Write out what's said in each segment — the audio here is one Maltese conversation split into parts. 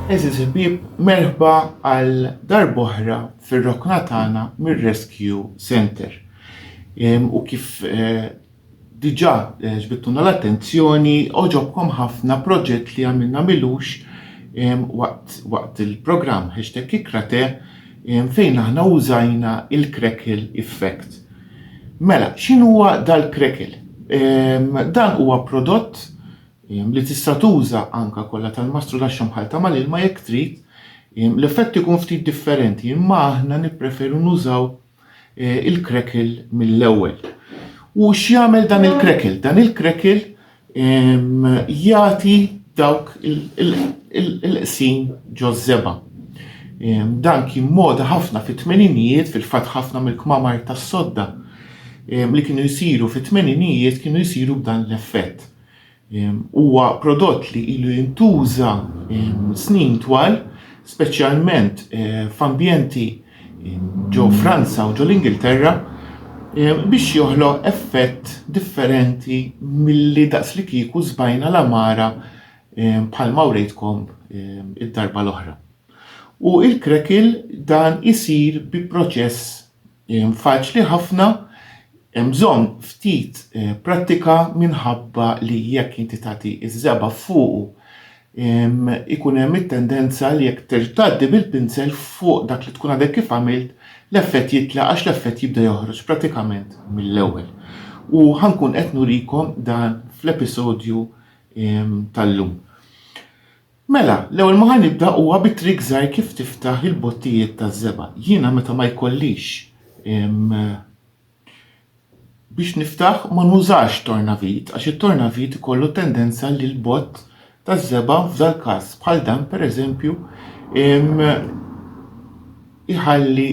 Għeżież ħbieb, merħba għal darb'oħra fir-rokna tagħna mir-Rescue Center. U kif eh, diġà eh, ġbittuna l-attenzjoni, oġobkom ħafna proġett li għamilna milux waqt il-programm hashtag ikrate fejn aħna użajna il-crackle effect. Mela, x'inhuwa dal-krekel? Ehm, dan huwa prodott ehm, li tista' tuża anka kollha tal-mastru laxxa mħalta mal-ilma jekk trid. Ehm, l-effett ikun ftit differenti, imma aħna nippreferu nużaw eh, il-krekel mill-ewwel. U x'jagħmel dan il-krekel? Dan il-krekel jagħti dawk il-qsim ġożżeba. Dan kien moda ħafna fit-tmeninijiet fil-fatt ħafna mill-kmamar tas-sodda li kienu jsiru fit-tmeninijiet kienu jsiru b'dan l-effett. Huwa prodott li ilu jintuża snin twal, speċjalment eh, f'ambjenti ġo Franza u ġo l-Ingilterra biex joħloq effett differenti milli daqslikieku żbajna l-għamara bħalma wrejtkom id-darba l-oħra. U il-krekil dan isir bi proċess faċli ħafna hemm bżonn ftit prattika minħabba li jekk inti tagħti ż-żebgħa fuqu ikun hemm it-tendenza li jekk terġa' tgħaddi bil-pinsel fuq dak li tkun għadek kif għamilt, l-effett jitlaq għax l-effett jibda joħroġ pratikament mill-ewwel. U ħankun qed nurikom dan fl-episodju tal-lum. Mela, l-ewwel ma ħanibda huwa bi trik żgħir kif tiftaħ il-bottijiet taż-żebgħa. Jiena meta ma jkollix Biex niftaħ ma nużax tornavit għax it-tornavit ikollu tendenza li l-bott taż-żebgħa f'dal-każ bħal dan pereżempju iħalli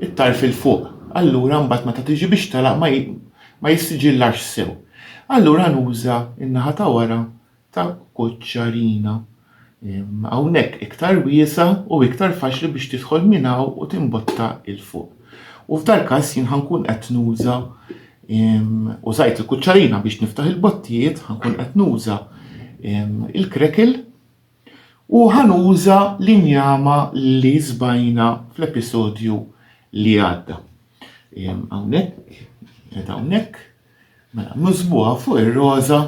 it-tarf 'il fuq. Allura mbagħad meta tiġi biex tagħlaq ma jissiġillax sew. Allura nuża n-naħa ta' wara ta' Koċċarina. Hawnhekk iktar wiesgħa u iktar faċli biex tidħol minn hawn u timbotta 'l fuq. U f'dal-każ jien ħa nkun qed nuża użajt il-kuċċarina biex niftaħ il-bottijiet, ħa nkun qed nuża il-krekel u ħa nuża l-injama li żbajna fl-episodju li għadda. Hawnhekk, qed hawnhekk, Mela nużbuha fuq ir-roża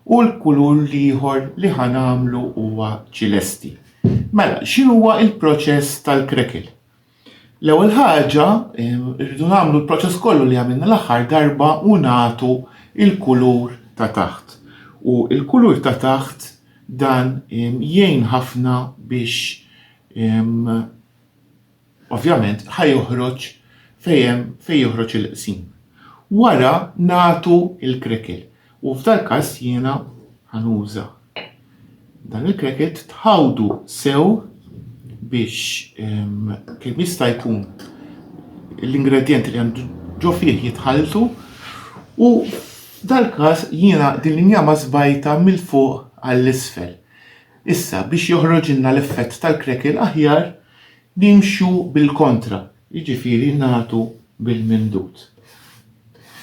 u l-kulur l-ieħor li ħa nagħmlu huwa ċilesti. Mela, x'inhuwa l-proċess tal-krekil? L-ewwel ħaġa rridu nagħmlu l-proċess kollu li għamilna l-aħħar darba u nagħtu il-kulur ta' taħt. U il-kulur ta' taħt dan jgħin ħafna biex Ovvjament ħa joħroġ fejn hemm fejn joħroġ il-qsim. Wara nagħtu l-crackle u f'dal-każ jiena ħa nuża dan il-crackle tħawdu sew biex kemm jista' jkun l-ingredjenti li għandu ġo fih jitħalltu u f'dal-każ jiena din l-injama żbajta mill-fuq għall-isfel. Issa, biex joħroġilna l-effett tal-crackle aħjar, nimxu bil-kontra, jiġifieri nagħtu bil-mimdud.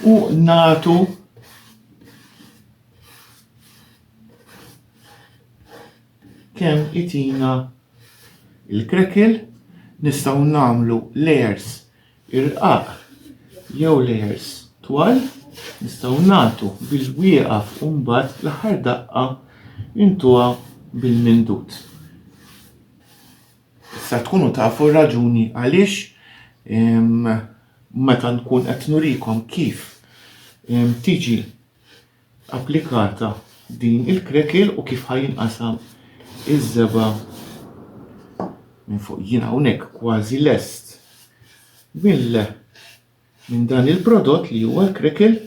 U nagħtu kemm itina l-crackle, nistgħu nagħmlu layers irqaq jew layers twal nistgħu nagħtu biex wieqaf u mbagħad l-aħħar daqqa intuha bil-mindut. Issa tkunu tafu raġuni għaliex meta nkun qed nurikom kif tiġi applikata din il-krekel u kif ħajinqasam iż-żeba minn fuq jien hawnhekk kważi lest mill minn dan il-prodott li huwa l-krekel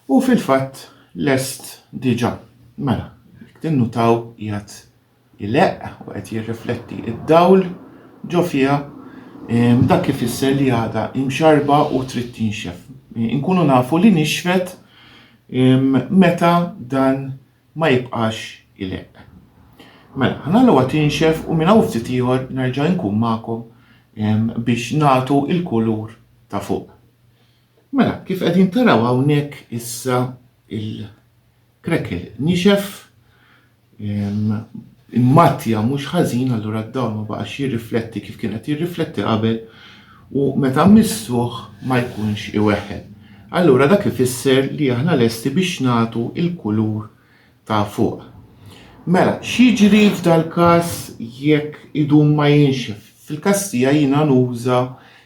Hu fil-fatt lest diġà. Mela, jekk tinnutaw qiegħed ileqq u qed jirrifletti id-dawl ġo fiha, ehm, dak ifisser li għadha imxarba u trid tinxef. Inkunu nafu li nixfet ehm, meta dan ma jibqax ileqq. Mela, ħanalluha tinxef u minn hawn ftit ieħor nerġa' nkun magħkom ehm, biex nagħtu il-kulur ta' fuq. Mela, kif qegħdin taraw hawnhekk issa il-krekel nixef immattja mhux ħażin allura d-dawl ma baqax jirrifletti kif kien qed jirrifletti qabel u meta missuh ma jkunx iweħħel. Allura dak ifisser li aħna lesti biex nagħtu il-kulur ta' fuq. Mela, x'jiġri f'dal-każ jekk idum ma jinxef? Fil-każ tiegħi jiena nuża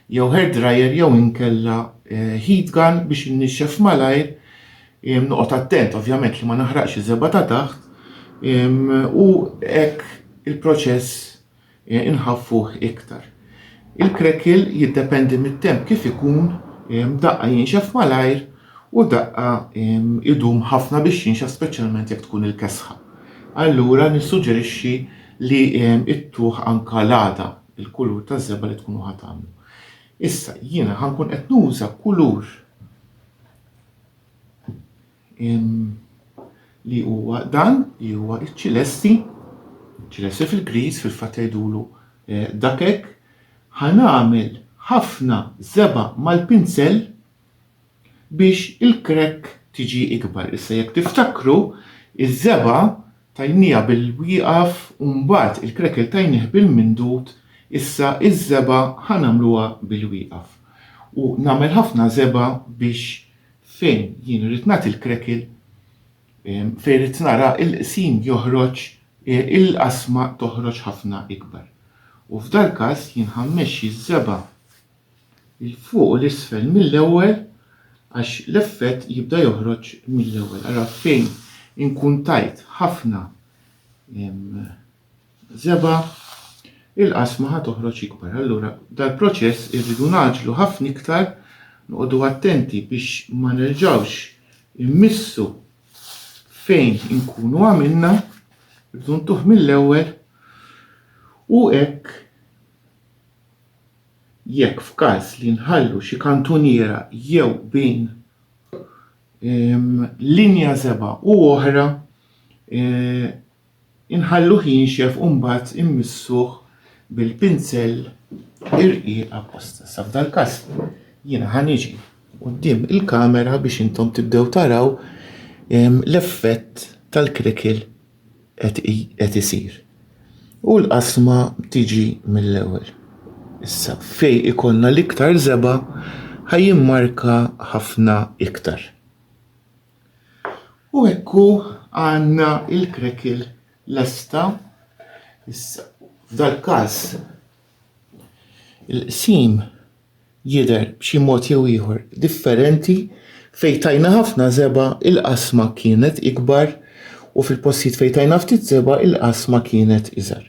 jew hair dryer jew inkella heat gun biex innixxef malajr, noqgħod attent ovvjament li ma naħraqx iż-żebgħa ta' taħt u hekk il-proċess inħaffuh iktar. Il-crackle jiddependi mit-temp kif ikun, daqqa jinxef malajr u daqqa idum ħafna biex jinxef speċjalment jekk tkun il-kesħa. Allura nissuġġerixxi li ittuh anka l-għada, il-kulur taż-żebgħa li tkunu ħa tagħmlu. Issa jiena ħa nkun qed nuża kulur li huwa dan li huwa iċ-ċilesti, ċilesti fil-Griż fil-fatt jgħidulu eh, dak hekk, ħa nagħmel ħafna żeba' mal-pinsell biex il-krekk tiġi ikbar. Issa jekk tiftakru, iż-żeba' tajnija bil-wieqaf u mbagħad il-krekel tajnih bil-mindut, issa iż-żeba' ħa nagħmluha bil-wieqaf. U nagħmel ħafna żeba' biex fejn jien irrid nagħti l-krekil, fejn rrid nara l-qsim joħroġ, il-qasma toħroġ ħafna ikbar. U f'dal-każ jien ħa mmexxi ż-żebgħa 'l fuq u 'l isfel mill-ewwel għax l-effett jibda joħroġ mill-ewwel. Allura fejn inkun tajt ħafna Żebgħa, Il-qasma ħa toħroġ ikbar. Allura, dal-proċess irridu ngħaġġlu ħafna iktar, noqogħdu attenti biex ma nerġgħux immissu fejn inkunu għamilna, irridu ntuh mill-ewwel u hekk jekk f'każ li nħallu xi kantuniera jew bejn linja żebgħa u oħra Inħalluh jinxef u mbagħad immissuh bil-pinzell irqiq apposta. Sa f'dal-każ jiena ħa niġi quddiem il-kamera biex intom tibdew taraw l-effett tal-crackle qed isir. U l-qasma tiġi mill-ewwel. Issa fej ikollna l-iktar żebgħa ħa jimmarka ħafna iktar. U hekk hu għandna l-krekil lesta. Issa, f'dal-każ il-qsim jidher b'xi mod jew ieħor differenti fejn tajna ħafna żebgħa il-qasma kienet ikbar u fil-postijiet fejn tajna ftit żebgħa il-qasma kienet iżgħar.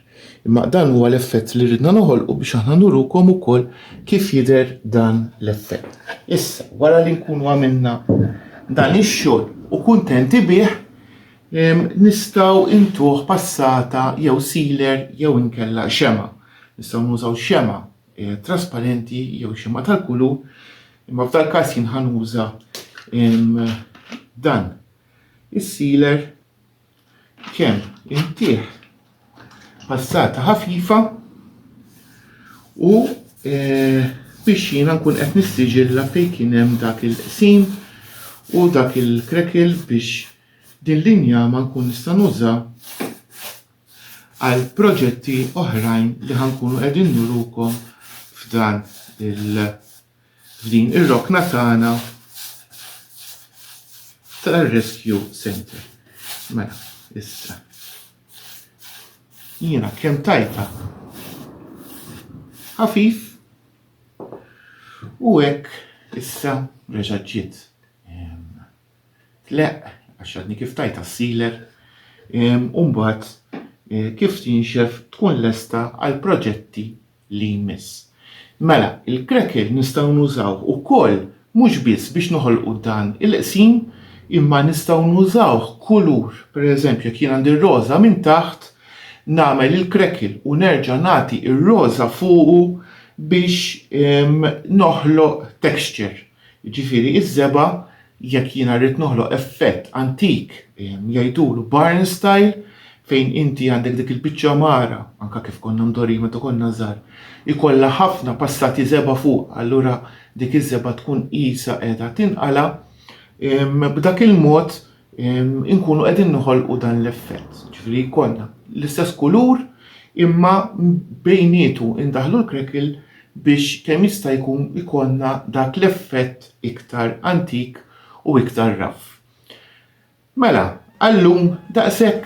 Imma dan huwa l-effett li ridna noħolqu biex aħna nurukom ukoll kif jidher dan l-effett. Issa, wara li nkunu għamilna dan ix-xogħol u kuntenti bih, nistgħu intuh passata jew sealer jew inkella xemgħa. Nistgħu nużaw xemgħa eh, trasparenti jew xemgħa tal-kulur, imma f'dal każ jien ħanuża dan is-sealer Kemm intih passata ħafifa u eh, biex jiena nkun qed nistiġilla fejn kien hemm dak il-qsim u dak il-krekil biex din linja ma nkun nista' nuża għal proġetti oħrajn li ħankunu qegħdin nurukom f'dan il- f'din ir-rokna tagħna tar-Rescue Centre. Mela, issa. Jiena kemm tajta ħafif u hekk issa reġa' ġiet tleq għax għadni kif tajta s-siler u mbagħad eh, kif tinxef tkun lesta għal proġetti li jmiss. Mela, il-crackle nistgħu nużawh ukoll mhux biss biex noħolqu dan il-qsim imma nistgħu nużawh kulur. Pereżempju, jekk jien għandi r-roża minn taħt, nagħmel il-crackle u nerġa' nagħti r-roża fuqu biex noħloq texture. Jiġifieri iż-żebgħa jekk jiena rrid noħloq effett antik, jgħidulu barn style, fejn inti għandek dik il-biċċa għamara, anke kif konna mdorrijin meta konna żgħar, ikollha ħafna passati żebgħa fuqha, allura dik iż-żebgħa tkun qisha qiegħda tinqala', b'dak il-mod inkunu qegħdin noħolqu dan l-effett, ġifieri jkollna l-istess kulur imma bejnietu indaħlu l-crackle biex kemm jista' jkun ikollna dak l-effett iktar antik u iktar raff. Mela, għallum daqshekk.